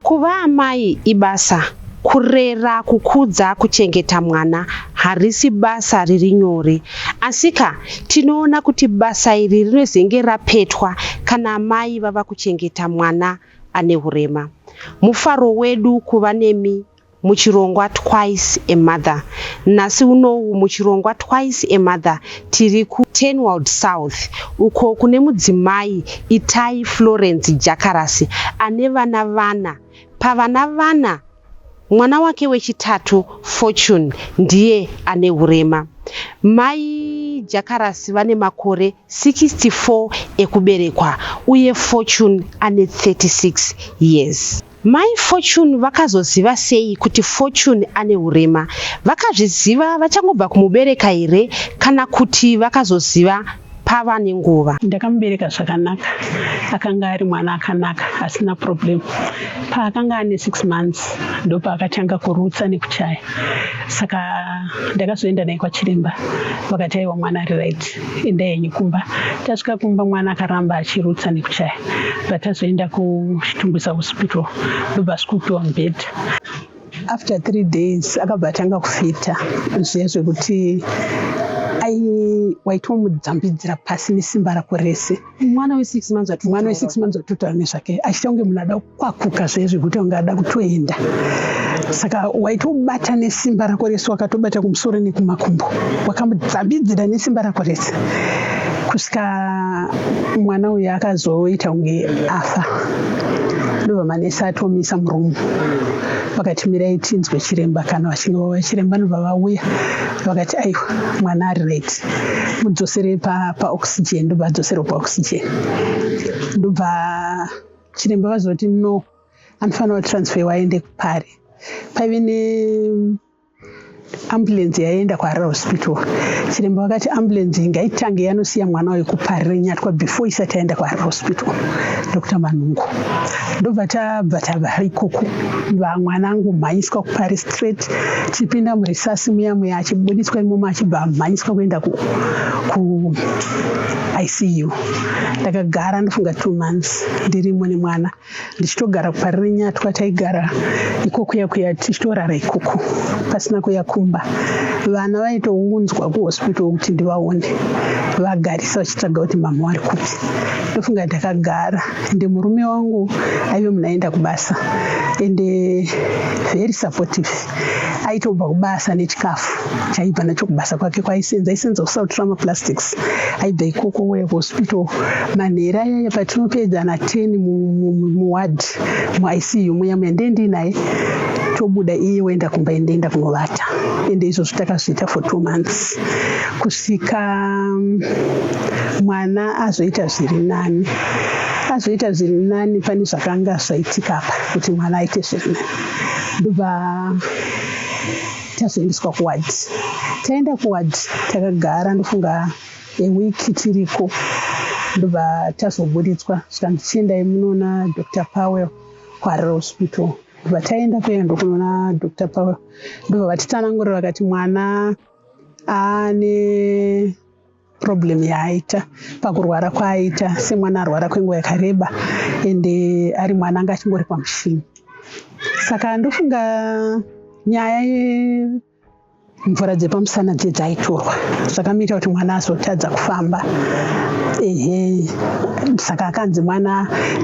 Kuva amai ibasa. Kurera, kukudza, kuchengeta mwana harisi basa riri nyore. Asika, tinoona kuti basa iri rinozenge rapetwa kana amai vava kuchengeta mwana ane hurema. Mufaro wedu kuva nemi muchirongwa Twice a Mother. Nhasi unou muchirongwa Twice a Mother tiri ku Turnwald South uko kune mudzimai Itai Florence Jakarasi ane vana vana. Pavana vana, mwana wake wechitatu Fortune ndiye ane hurema. Mai Jakarasi vane makore 64 ekuberekwa uye Fortune ane 36 years. Mai Fortune vakazoziva sei kuti Fortune ane hurema? Vakazviziva vachangobva kumubereka here kana kuti vakazoziva pava nenguva. Ndakamubereka zvakanaka, akanga ari mwana akanaka asina problem. Paakanga ane six months ndopaakatanga kurutsa nekuchaya, saka ndakazoenda naye kwachiremba vakati aiwa mwana ari right. enda henyu kumba tasvika kumba mwana akaramba achirutsa nekuchaya but azoenda kuchitumbisa hospital ndobva asvikupiwa mubed after three days akabva atanga kufita zviya zvekuti waitwa mudzambidzira pasi nesimba rako rese mwana wesix months ati mwana wesix months atotaura nezvake achiita kunge munhu ada kukwakuka zvaye zvekuti kunge ada kutoenda saka waitobata nesimba rako rese wakatobata kumusoro nekumakumbo wakamudzambidzira nesimba rako rese kusvika mwana uyu akazoita kunge afa ndobva manesi atomisa murumu vakati mirai tinzwe chiremba kana vachinge vauya chiremba nobva vauya vakati aiwa mwana ari right mudzosere pa, pa oxygen ndobva adzoserwa pa oxygen ndobva chiremba vazoti no anofanira kutransfer waende kupari paive ne ambulance yaienda kuharare hospital chiremba vakati ambulance ngaitange yanosiya mwana uyu kupari renyatwa before isati yaenda kuharare hospital dr manhungu ndobva tabva tava ikoko vamwanangu mhanyiswa kuparis straight chipinda murisasi muya muya achibuditswa imomo achibva amhanyiswa kuenda ku, ku icu ndakagara ndofunga two months ndirimo nemwana ndichitogara kuparire nyatwa taigara ikokuya kuya tichitorara ikoko pasina kuya kumba vana vaitounzwa kuhospital kuti ndivaone vagarisa vachitsvaga kuti mama wari kupi ndofunga ndakagara ende murume wangu aive munhu aenda kubasa ende very supportive aitobva kubasa nechikafu chaibva nacho kubasa kwake kwaisenza aisenza kusouth trama plastics aibva ikoko wouya kuhospital manhera ayaya patinopedza na ten muward muicu muya muya ndee ndiinaye tobuda iye woenda kumba endeenda kunovata ende izvozvo takazviita for two months tika mwana azoita zviri nani azoita zviri nani pane zvakanga zvaitika apa kuti mwana aite zviri nani ndobva tazoendeswa kuward taenda kuward takagara ndofunga eweek tiriko ndobva tazoburitswa zvikanzi chiendai munoona dr powell kuharare hospital ndobva taenda kuya ndokunoona dr powell ndobva vatitsanangurira vakati mwana ane problem yaaita pakurwara kwaaita semwana arwara kwenguva yakareba ende ari mwana anga achingori pamushini saka ndofunga nyaya yemvura dzepamusana dze dzaitorwa zvakamuita kuti mwana azotadza kufamba ehe saka akanzi mwana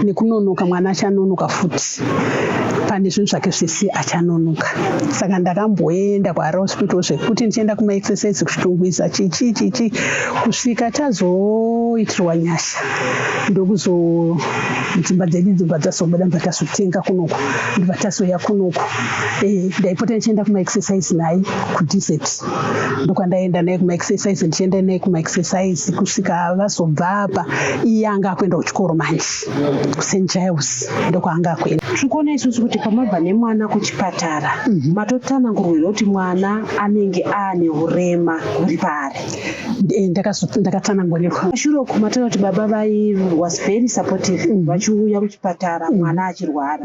nekunonoka mwana achanonoka futi kuti pane zvinhu zvake zvese achanonoka saka ndakamboenda kuhara hospital zvekuti ndichienda kumaexercise kuchitungwiza chichi chichi kusvika tazoitirwa nyasha ndokuzo dzimba dzedu dzimba dzazobuda ndibva tazotenga kunoku ndibva tazouya kunoku eh, ndaipota ndichienda kumaexercise naye kudesert ndokwandaenda naye kumaexercise ndichienda naye kumaexercise kusvika vazobva apa iye anga akuenda kuchikoro manje st giles ndokwaanga akuenda tiri kuona isusu kuti pamabva nemwana kuchipatara mhm. matotanangurwira kuti mwana anenge aane urema huri paari eh, ndakatanangurirwa pashure uku matoona kuti baba vai was very supportive mhm. vachiuya kuchipatara mhm. mwana achirwara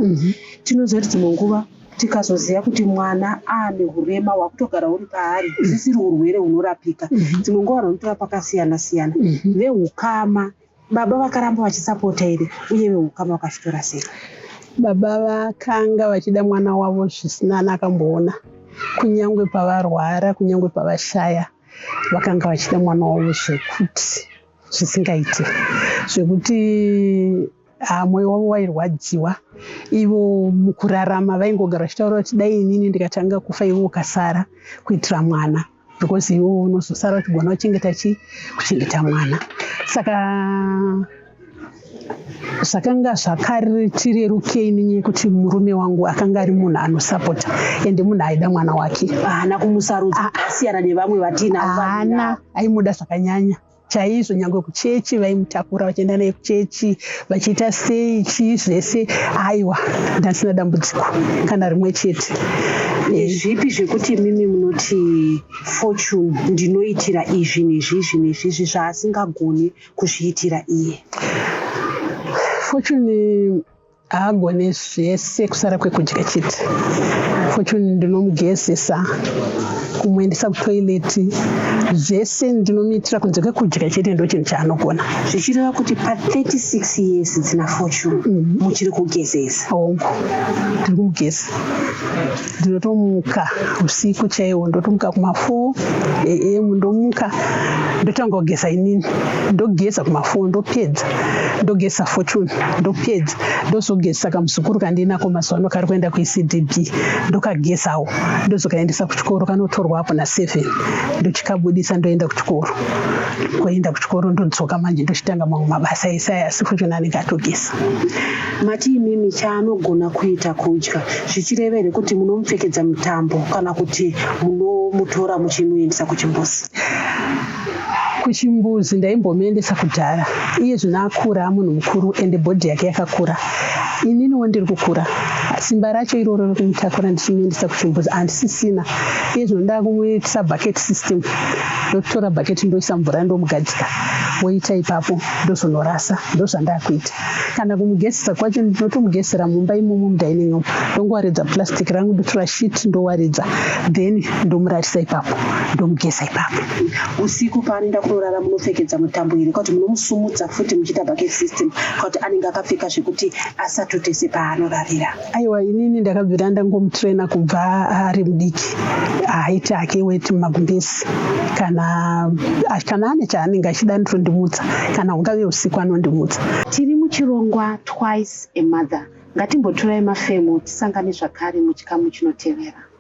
tinoziva kuti dzimwe nguva tikazoziva kuti mwana aane urema hwakutogara huri paari zvisiri urwere hunorapika dzimwe nguva vanotora pakasiyana siyana veukama Baba vakaramba vachisapota here uye vehukama vakazvitora sei? Baba vakanga vachida mwana wavo zvisina ana akamboona. Kunyangwe pavarwara, kunyangwe pavashaya, vakanga vachida mwana wavo zvekuti zvisingaite, zvekuti ah, mwoyo wavo wairwadziwa. Ivo mukurarama vaingogara vachitaura kuti dai inini ndikatanga kufa ivo ukasara kuitira mwana. because iwe unozosara uchigona kuchengeta chii kuchengeta mwana saka zvakanga zvakartirerukei nenye yekuti murume wangu akanga ari munhu anosapota ende munhu aida mwana wake haana kumusarudza ah, ah. asiyana nevamwe vatinaaana aimuda zvakanyanya chaizvo nyangwe kuchechi vaimutakura vachienda naye kuchechi vachiita sei chii zvese aiwa ndandisina dambudziko kana rimwe chete zvipi zvekuti imimi munoti fortune ndinoitira izvi nezvizvi nezvizvi zvaasingagoni kuzviitira iye fortune haagone zvese kusara kwekudya chete fortune ndinomugezesa kumuendesa kutoileti zvese ndinomuitira kunze kwekudya chete ndo chinhu chaanogona zvichireva kuti pa36 years dzina fortune mhm. muchiri kugezesa hongu ndiri kumugeza ndinotomuka usiku chaiwo ndotomuka kuma4 am ndomuka ndotanga kugeza inini ndogeza kuma4 ndopedza ndogeza fortune ndopedza ndozogeza kamuzukuru kandinako mazuva ano kari kuenda kuecdb ndokagezawo ndozokaendesa kuchikoro kanotorwa apo naseven ndochikabudisa ndoenda kuchikoro koenda kuchikoro ndodzoka manje ndochitanga mamwe mabasa esaya asi fortune anenge atogeza Mati imimi chaanogona kuita kudya zvichireva here kuti munomupfekedza mutambo kana kuti munomutora muchimuendesa kuchimbuzi? Kuchimbuzi ndaimbomuendesa kudhara, iye zvino akura amunhu mukuru ende bhodhi yake yakakura. Ininiwo ndiri kukura, simba racho iroro rekumutakura ndichimuendesa kuchimbuzi handisisina. Iye zvino ndakumuitisa bucket system, ndokutora bucket ndoisa mvura ndomugadzika woita ipapo ndozonorasa, ndozvandakuita. kana kumugezesa kwacho ndinotomugezesera mumba imomo mudining room ndongowaridza plastic rangu ndotora shit ndowaridza then ndomurarisa ipapo ndomugeza ipapo usiku paanoenda kunorara munopfekedza mutambo iri kwakuti munomusumudza futi muchiita bucket system kwakuti anenge akapfeka zvekuti asatotese paanorarira aiwa inini ndakabvira ndangomutraina kubva ari mudiki haiti hake weti mumagumbezi kana kana ane chaanenge achida anotondimutsa kana hungave usiku anondimutsa tiri muchirongwa twice a mother ngatimbotorai mafemo tisangane zvakare muchikamu chinotevera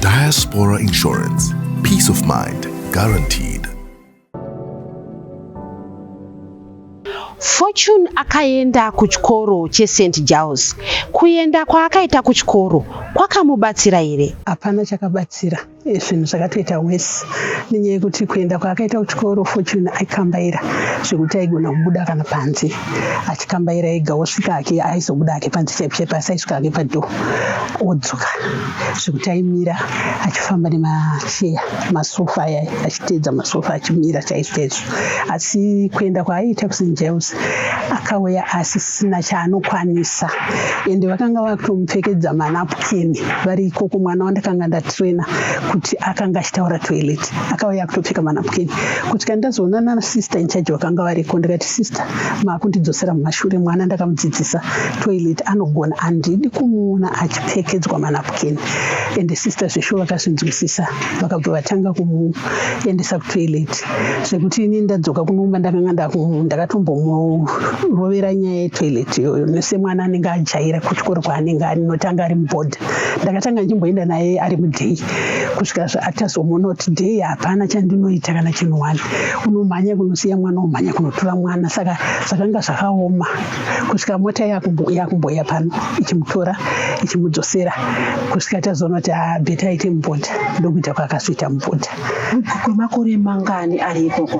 Diaspora Insurance. Peace of mind guaranteed. Fortune akaenda kuchikoro cheSt Giles. Kuenda kwaakaita kuchikoro kwakamubatsira here? Hapana chakabatsira. Eh, zvinhu zvakatoita worse nenyaya yekuti kuenda kwaakaita kuchikoro Fortune aikambaira zvekuti aigona kubuda kana panze. achikambaira ega osvika hake aizobuda hake panze chaipo chaipo asi aisvika hake padhoo odzoka zvekuti aimira achifamba nemacheya masofa aya achiteedza masofa achimira chaizvo chaizvo asi kuenda kwaaiita kusen james akauya asisina chaanokwanisa ende vakanga vakutomupfekedza manapukeni vari ikoko mwana wandakanga ndatraina kuti akanga achitaura toilet akauya akutopfeka manapukeni kuti kandazoona nana sister inchaji vakanga variko ndikati Sister makundidzosera mumashure mwana ndakamudzidzisa toilet anogona handidi kumuona achipfekedzwa manapukeni ende sister zvesho vakazvinzwisisa vakabva vatanga kumuendesa kutoilet zvekuti ini ndadzoka kunoumba ndakanga ndakatombomurovera nyaya yetoilet iyoyo nesemwana anenge ajaira kuchikoro kwaanenge anotanga ari muboard ndakatanga ndichimboenda naye ari mudhey kusvika zvaatazomona kuti dhey hapana chandinoita kana chinhu wani unomhanya kunosiya mwana omhanya kunotura mwana saka zvakanga zvakaoma kusvika mota yakumboya pano ichimutora ichimudzosera kusvika tazoona kuti abheta ah, aite mubota ndokuita kwakazoita mubota kwemakore mangani ari ikoko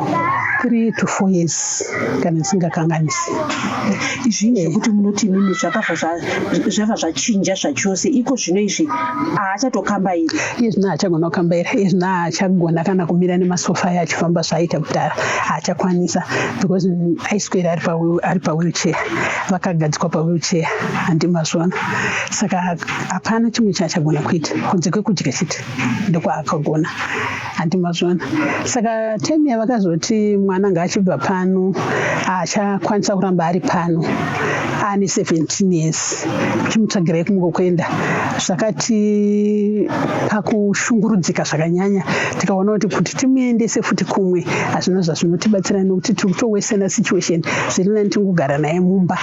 three to four years kana isingakanganisi izvi zvekuti munoti imimi zvakazvazvava zvachinja zvachose iko zvino izvi haachatokambairi iye zvino haachagona kukambaira iye zvino haachagona kana kumira nemasofa ayo achifamba zvaaita kudhara haachakwanisa because aiswera ari pawheelchair vakagadzikwa pawheelchair handimazvona saka hapana chimwe chaachagona kuita kunze kwekudya chete ndokwaakagona handi mazvona saka time yavakazoti mwana ngaachibva pano achakwanisa kuramba ari pano ane 17 years chimutsvagirai kumwe kuenda zvakati pakushungurudzika zvakanyanya tikaona kuti kuti timuendese futi kumwe hazvina zvazvinotibatsira nekuti tiri kutowesena situation zviri nani tingogara naye mumba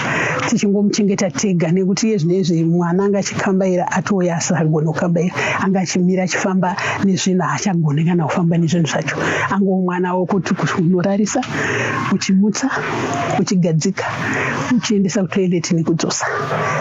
tichingomuchengeta tega nekuti iye zvino izvi mwana anga achikambaira atouya asisagone kufamba iri anga achimira achifamba nezvinhu haachagone kana kufamba nezvinhu zvacho ango mwana wokuti unorarisa uchimutsa uchigadzika uchiendesa kutoilet nekudzosa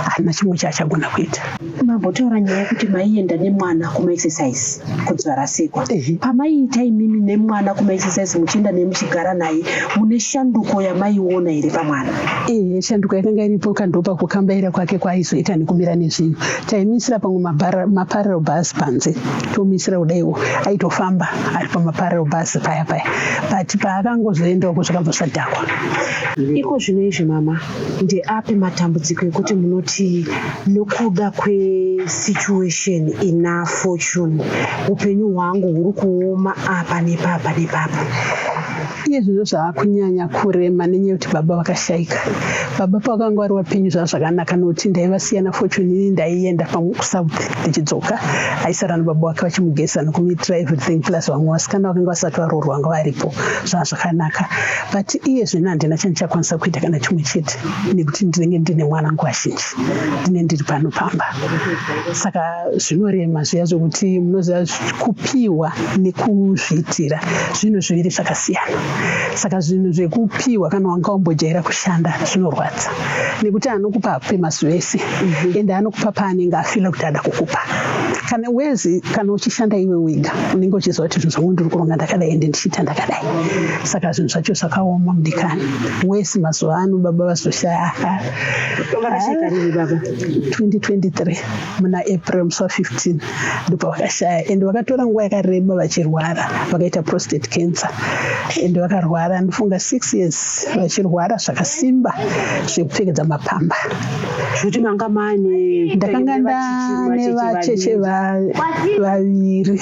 haana chimwe chaachagona kuita mambotaura nyaya yekuti maienda nemwana kumaexercise kuti varasikwa pamaiita imimi nemwana kumaexercise muchienda nemuchigara naye mune shanduko yamaiona here pamwana ehe shanduko yakanga iripo kandopa kukambaira kwake kwaaizoita nekumira nezvinhu taimisira pamwe maparel bus panze tomisira kudaiwo aitofamba ari pamaparel bus paya paya but paakangozoenda uko zvakabvasadhakwa iko zvino izvi mama ndeapi matambudziko ekuti munoti nokuda kwesituation ina fortune upenyu hwangu huri kuoma apa nepapa nepapa iye zvinhu zvaakunyanya kurema nenyaya yekuti baba vakashaika baba pavakanga vari vapenyu zvava zvakanaka nokuti ndaivasiyana fortune ini ndaienda pamwe kusouth ndichidzoka aisara nababa vake vachimugeza nokumiitira everything plus vamwe vasikana vakanga vasati varoorwa vanga varipo zvava zvakanaka but iye zvino handina chandichakwanisa kuita kana chimwe chete nekuti ndinenge ndine mwana nguva zhinji ndine ndiri pano pamba saka zvinorema zviya zvekuti munoziva Kupiwa nekuzviitira zvinhu zviviri zvakasiyana. Saka zvinhu zvekupiwa kana wanga wambojaira kushanda zvinorwadza nekuti anokupa akupe mazuva ese mhm. ende anokupa paanenge afila kuti ada kukupa kana wezi kana uchishanda iwe wega unenge uchiziva kuti zvinhu zvangu ndiri kuronga ndakadai ende ndichiita ndakadai saka zvinhu zvacho zvakaoma mudikani wesi mazuva ano baba vazoshaya 2023 muna april musi wa15 ndopavakashaya and vakatora nguva yakareba vachirwara vakaita prostate cancer and vakarwara ndofunga six years vachirwara zvakasimba zvekupfekedza mapamba zvokuti manga mane ndakanga ndane vacheche vaviri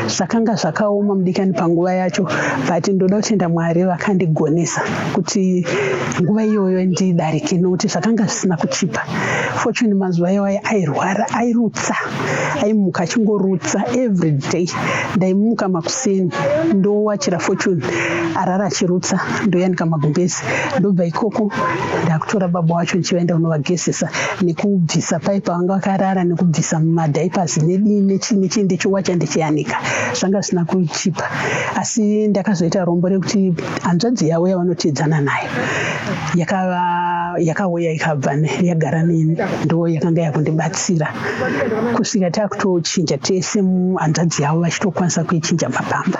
zvakanga zvakaoma mudikani panguva yacho but ndoda kutenda mwari vakandigonesa kuti nguva iyoyo ndidarike nokuti zvakanga zvisina kuchipa Fortune mazuva iwaya airwara, airutsa, aimuka achingorutsa every day. Ndaimuka makuseni ndowachira Fortune arara achirutsa, ndoyanika magumbezi, ndobva ikoko ndakutora baba wacho ndichivaenda kunovagezesa nekubvisa pai pavanga vakarara nekubvisa mumadiapers nedii nechii nechii ndichiwacha ndichiyanika, zvanga zvisina kuchipa asi ndakazoita rombo rekuti hanzvadzi yavo yavanoteedzana nayo yakava yakauya ikabva yagara neni ndo yakanga yakundibatsira kusvika takutochinja tese hanzvadzi yavo vachitokwanisa kuichinja mapamba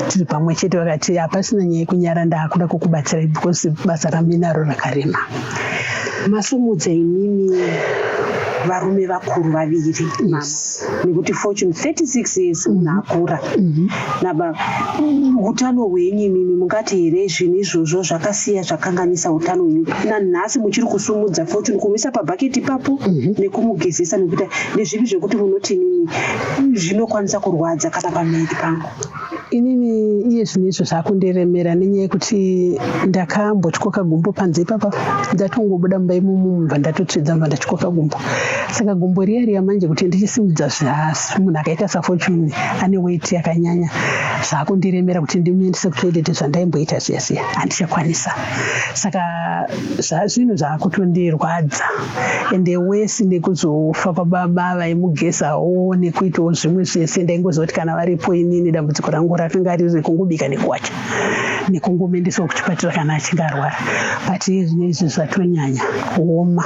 tiri pamwe chete vakati hapasina nyaya yekunyara ndaakuda kukubatsirai because basa raminaro rakarema masumudza imimi varume vakuru vaviri yes. nekuti fortune 36 years munhu mhm. akura mhm. naba utano hwenyu imimi mungati here zvinhu izvozvo zvakasiya zvakanganisa utano hwenyu nanhasi muchiri kusumudza fortune kumuisa pabhaketi ipapo mhm. nekumugezesa nekuita nezvipi zvekuti munoti imimi zvinokwanisa kurwadza kana pamiri pangu inini iye zvinhu izvo zvakundiremera nenyaya yekuti ndakambotyoka gumbo panze ipapa ndatongobuda mumba imomo mumva ndatotsvedza mva ndatyoka gumbo saka gumbo riya riya manje kuti ndichisimudza zvihasi munhu akaita safortune ane weti yakanyanya zvakundiremera kuti ndimuendese kutoilet zvandaimboita zviya zviya handichakwanisa saka zvinhu zvakutondirwadza ende wesi nekuzofa kwababa vaimugeza wo nekuitawo zvimwe zvese ndaingozoti kana varipo inini dambudziko rangu rakanga riri kungobika nekuwacha nekungomendesawo kuchipatara kana achinge arwara but iye zvine izvi zvatonyanya kuoma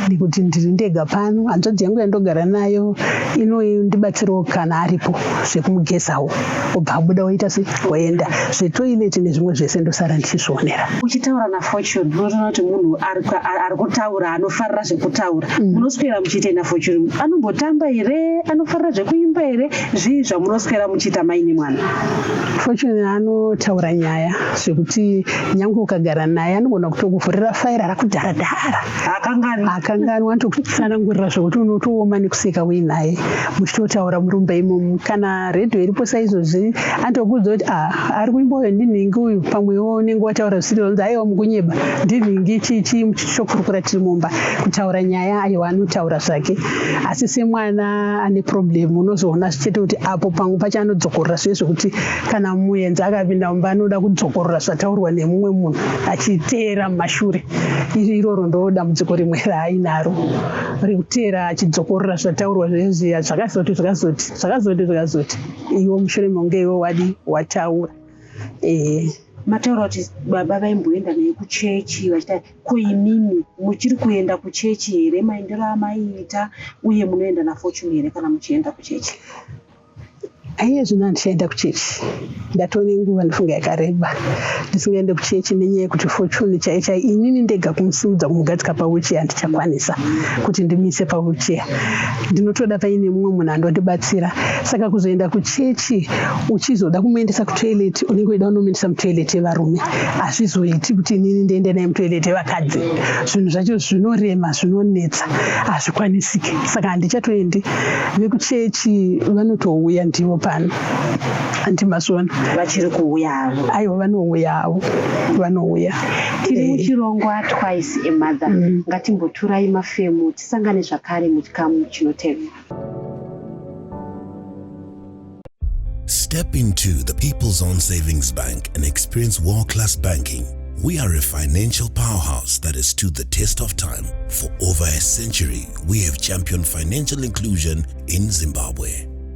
nekuti ndiri ndega pano hanzvadzi yangu yandogara nayo inondibatsirawo kana aripo zvekumugezawo obva abuda oita sei woenda zvetoilet nezvimwe zvese ndosara ndichizvionera uchitaura nafortune unotoona kuti munhu ari kutaura anofarira zvekutaura mm. munoswera muchiita nafortune anombotamba here anofarira zvekuimba here zvii zvamunoswera muchiita maine mwana fortune anotaura nyaya zvekuti nyange ukagara naye anogona kutokuvhurira faira rakudhara dhara akanganwa anotokutsanangurira zvekuti unotooma nekuseka uinaye muchitotaura murumba imomu kana radio iripo saizvozvi andokuudza kuti ah, ari kuimboyo ndinhingi uyu pamwewo unenge wataura zvisiri vanzi aiwa mukunyeba ndinhingi chii chii chokurukura tiri mumba kutaura nyaya aiwa anotaura zvake asi semwana ane problem unozoona zvichete kuti apo pamwe pacho anodzokorora zviye zvekuti kana muenzi akapinda mumba anoda kudzokorora zvataurwa nemumwe munhu achiteera mumashure iri iroro ndo dambudziko rimwe raainaro rekuteera achidzokorora zvataurwa zvezviya zvakazoti zvakazoti zvakazoti zvakazoti iwo mushure mekunge iwo wadi wataura eh. mataura kuti baba vaimboenda naye kuchechi vachita ko imimi muchiri kuenda kuchechi here maendero amaiita uye munoenda nafortune here kana muchienda kuchechi aiye zvino handichaenda kuchechi ndatove nenguva ndifunga yakareba ndisingaende kuchechi nenyaya yekuti fortune chai chai inini ndega kumusimudza kumugadzika pawheelchair handichakwanisa kuti ndimise pawheelchair ndinotoda paine mumwe munhu anondibatsira saka kuzoenda kuchechi uchizoda kumuendesa kutoilet unenge uida unomuendesa mutoilet yevarume hazvizoiti kuti inini ndiende naye mutoilet yevakadzi zvinhu zvacho zvinorema zvinonetsa hazvikwanisike saka handichatoendi vekuchechi vanotouya ndivo pano anti masona vachiri kuuya havo aiwa vanouya havo vanouya tiri eh. muchirongwa twice a mother mm. ngatimboturai mafemo tisangane zvakare muchikamu chinotevera Step into the People's Own Savings Bank and experience world class banking. We are a financial powerhouse that has stood the test of time. For over a century, we have championed financial inclusion in Zimbabwe.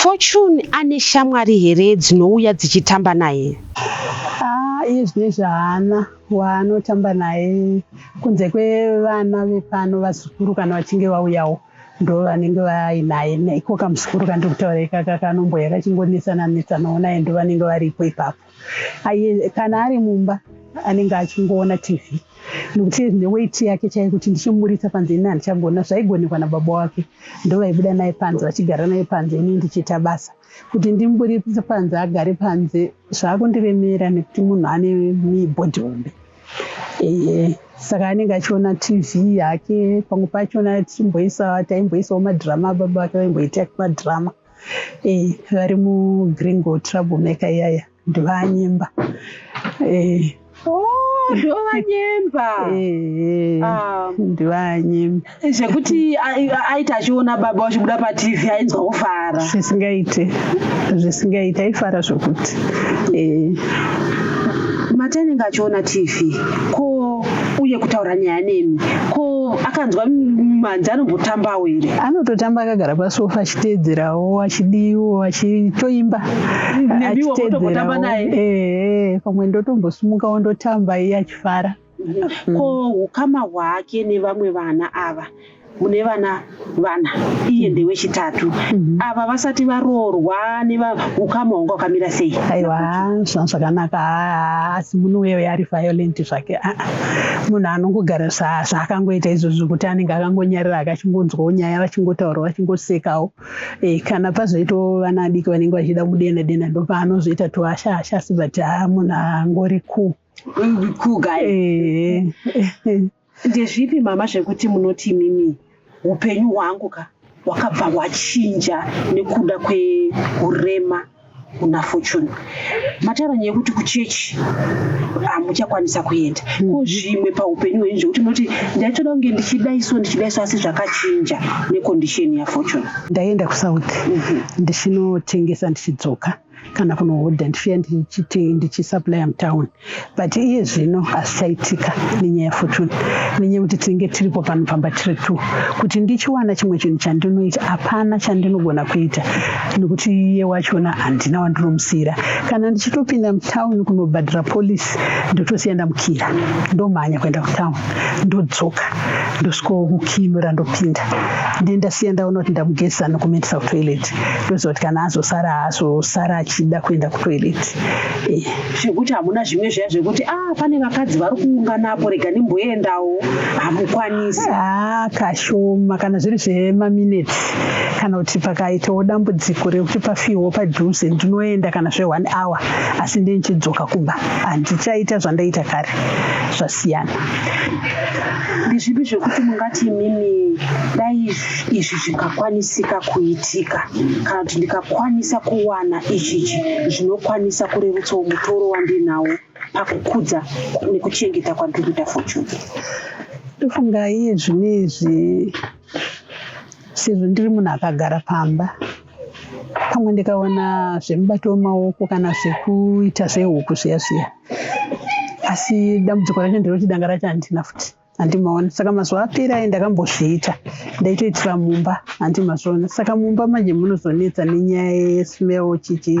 Fortune ane shamwari here dzinouya dzichitamba naye? Ah, iye zvine zvaana waanotamba naye kunze kwevana vepano vazukuru kana vachinge vauyawo ndo vanenge vainaye neiko kamuzukuru kandiri kutaura ikaka kanomboya kachingonetsana netsana onaye ndo vanenge varipo ipapo. Aye, kana ari mumba anenge achingoona tv nokuti neweight yake chaiye kuti ndichimuburitsa panze ini handichagona zvaigonekwa nababa wake ndovaibuda naye panze vachigara naye panze ini ndichiita basa kuti ndimuburitse panze agare panze zvaakundiremera nekuti munhu ane mibhodhi hombe ee saka anenge achiona tv yake pamwe pachona tichimboisa taimboisawo madhirama baba vake vaimboita madrama e, eh, vari mugreen go trouble maker iyaya ndovanyemba eh. oh, ndovanyemba eh, ah. ndovanyemba zvekuti aita achiona baba vachibuda patv ainzwa kufara zvisingaite zvisingaite aifara zvekuti mati anenge achiona tv ko uye kutaura nyaya nemi ko akanzwa manzi anombotambawo here anototamba akagara pasofa achiteedzerawo achidiwo achitoimba achiteedzerawo ehe pamwe ndotombosimuka wondotamba iye achifara ko ukama hwake nevamwe vana ava mune vana vana iye ndewechitatu mhm. ava vasati varoorwa nevaukama hwanga wakamira sei aiwa zvakanaka asi munhu uyo yari violent zvake ah, ah. munhu anongogara zvaakangoita izvozvo kuti anenge akangonyarira akachingonzwawo nyaya vachingotaura vachingosekawo eh, kana pazoitawo vana adiki vanenge vachida kudena dena ndopaanozoita tuhasha hasha asi but ah, munhu angori ku kuga eh, eh, Ndezvipi mama zvekuti munoti imimi upenyu hwangu ka hwakabva hwachinja nekuda kweurema kuna fortune mataura nyaya yekuti kuchechi hamuchakwanisa kuenda mm. ko zvimwe paupenyu hwenyu zvekuti munoti ndaitoda kunge ndichidaiso ndichidaiso asi zvakachinja nekondisheni yafortune ndaienda kusouth mm-hmm. ndichinotengesa ndichidzoka kana kunohodha ndifiya ndichiti ndichisupplya mutown but iye zvino hazvichaitika nenyaya yefortune nenyaya yekuti tinenge tiripo pano pamba tiri two kuti ndichiwana chimwe chinhu chandinoita hapana chandinogona kuita nekuti iye wachona handina wandinomusiyira kana ndichitopinda mutown kunobhadhira polisi ndotosiya ndamukira ndomhanya kuenda kutown ndodzoka ndosvikokukinura ndopinda ndendasiya ndaona kuti ndamugeza nokumaindisakutoilet ndoziva kuti kana azosara haazosara achida kuenda kutoilet eh. zvekuti hamuna zvimwe zviya zvekuti a ah, pane vakadzi vari kuunganapo rega ndimboendawo hamukwanisi haa ah, kashoma kana zviri zvemaminutes kana kuti pakaitawo dambudziko rekuti pafiwo padhuze ndinoenda kana zve one hour asi nde ndichidzoka kumba handichaita zvandaita kare zvasiyana ndezvipi zvekuti mungati imimi dai izvi zvingakwanisika kuitika kana kuti ndikakwanisa kuwana ichichi zvinokwanisa kurerutsawo mutoro wandinawo pakukudza nekuchengeta kwandiri kuita fortune tofungai zvine izvi sezvo ndiri munhu akagara pamba pamwe ndikaona zvemubato wemaoko kana zvekuita zvehuku zviya zviya asi dambudziko racho nderekuti danga racho handina futi handimaona saka mazuva apera aye ndakambozviita ndaitoitira mumba handimazoona saka mumba manje munozonetsa nenyaya yesmell chichi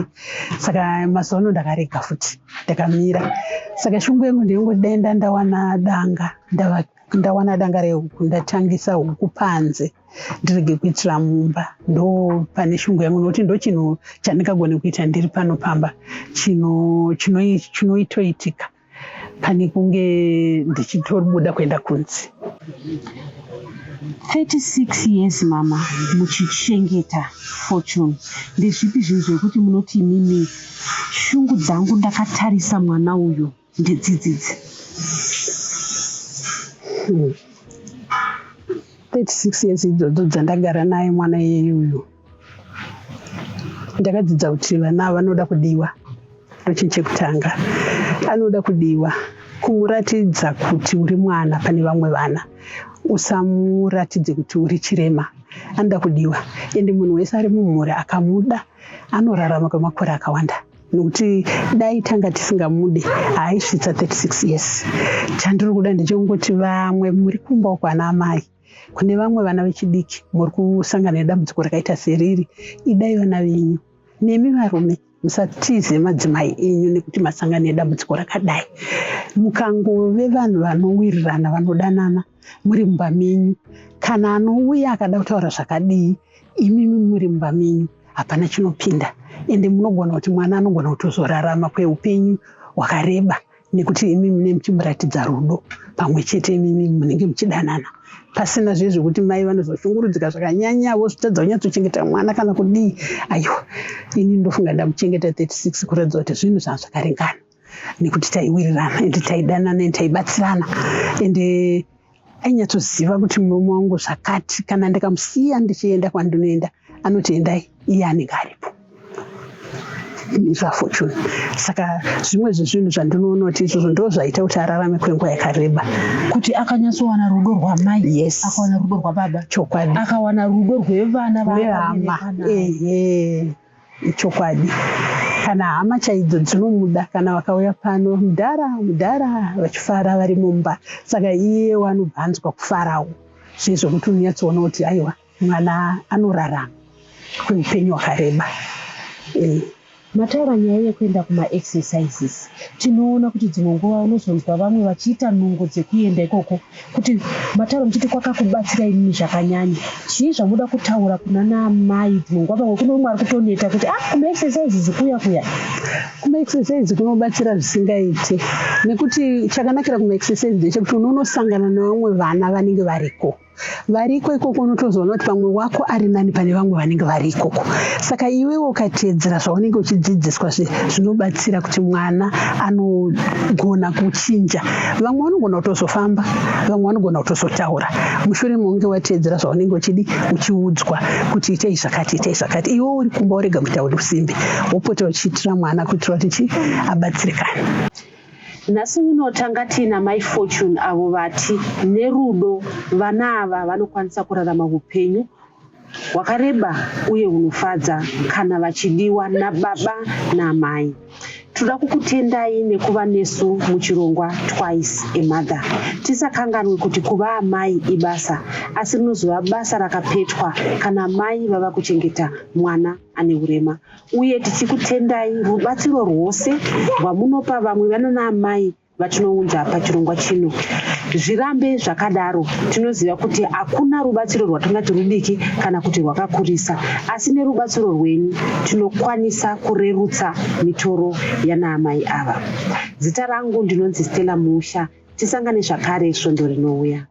saka mazuva ano ndakarega futi ndakamira saka shungu yangu ndeingodaenda ndawana danga ndava ndawana danga rehuku ndatangisa huku panze ndirege kuitira mumba ndo pane shungu yangu nokuti ndo chinhu chandingagone kuita ndiri pano pamba chinoitoitika pane kunge ndichitobuda kuenda kunzi 36 years mama muchichengeta fortune ndezvipi zvinhu zvekuti munoti imimi shungu dzangu ndakatarisa mwana uyu ndedzidzidzi hmm. 36 years idzodzo dzandagara naye mwana iyeyuyu ndakadzidza kuti vana ava vanoda kudiwa ndochinhu chekutanga anoda kudiwa kumuratidza kuti uri mwana pane vamwe vana usamuratidze kuti uri chirema anoda kudiwa ende munhu wese ari mumhuri akamuda anorarama kwemakore akawanda nokuti dai tanga tisingamude haaisvitsa 36 years chandiri kuda ndechekungoti vamwe muri kumba uko ana amai Kune vamwe vana vechidiki muri kusangana nedambudziko rakaita seriri, idai vana venyu. Nemi varume musatize madzimai enyu nekuti masangana nedambudziko rakadai. Mukangove vanhu vanowirirana, vanodanana muri mumba menyu, kana anouya akada kutaura zvakadii, imimi muri mumba menyu, hapana chinopinda. Ende munogona kuti mwana anogona kutozorarama kweupenyu hwakareba. nekuti imi mune muchimuratidza rudo pamwe chete imimi munenge muchidanana pasina zviye zvekuti mai vanozoshungurudzika zvakanyanya vozvitadza kunyatsochengeta mwana kana kudii aiwa ini ndofunga ndamuchengeta 36 kuratidza kuti zvinhu zvanga zvakaringana nekuti taiwirirana ende taidanana ende taibatsirana ende ainyatsoziva kuti murume wangu zvakati kana ndikamusiya ndichienda kwandinoenda anoti endai iye anenge aripo zvafortune saka zvimwe zvezvinhu zvandinoona kuti izvozvo ndo zvaita kuti ararame kwenguva yakareba kuti akanyatsowana rudo rwamai yes akawana rudo rwababa chokwadi akawana rudo rwevana vehama ehe Ichokwadi kana hama chaidzo dzinomuda kana vakauya pano mudhara mudhara vachifara vari mumba saka iye wanobva anzwa kufarawo sezvokuti unonyatsoona kuti aiwa mwana anorarama kweupenyu hwakareba eh. mataura nyaya yekuenda kumaexercises tinoona kuti dzimwe nguva unozonzwa vamwe vachiita nungo dzekuenda ikoko kuti matare muchiti kwakakubatsira inini zvakanyanya chii zvamuda kutaura kuna naamai dzingwa pamwe kune umwe ari kutoneta kuti ah kumaexercise zikuya kuya kumaexercise kunobatsira zvisingaiti nekuti chakanakira kumaexercise ndechekuti unonosangana nevamwe vana vanenge variko variko ikoko unotozoona kuti pamwe wako ari nani pane vamwe vanenge vari ikoko saka iwewe ukateedzera zvaunenge uchidzidziswa zvinobatsira kuti mwana anogona kuchinja vamwe vanogona kutozofamba vamwe vanogona kutozotaura mushure mounge wateedzera zvaunenge uchidi uchiudzwa kuti itei zvakati itei zvakati iwewe uri kumba urega kuita usimbe wopota uchiitira mwana kuitira kuti chi abatsirikane Nhasi uno tanga tiina mai Fortune avo vati nerudo vana ava vanokwanisa kurarama hupenyu hwakareba uye hunofadza kana vachidiwa nababa namai tinoda kukutendai nekuva nesu muchirongwa twice amother tisakanganwe kuti kuva amai ibasa asi rinozova basa rakapetwa kana mai vava kuchengeta mwana ane urema uye tichikutendai rubatsiro rwose rwamunopa vamwe vanana amai vatinounza pachirongwa chino zvirambe zvakadaro tinoziva kuti hakuna rubatsiro rwatingati rudiki kana kuti rwakakurisa asi nerubatsiro rwenyu tinokwanisa kurerutsa mitoro yanaamai ava zita rangu ndinonzi stella musha tisangane zvakare svondo rinouya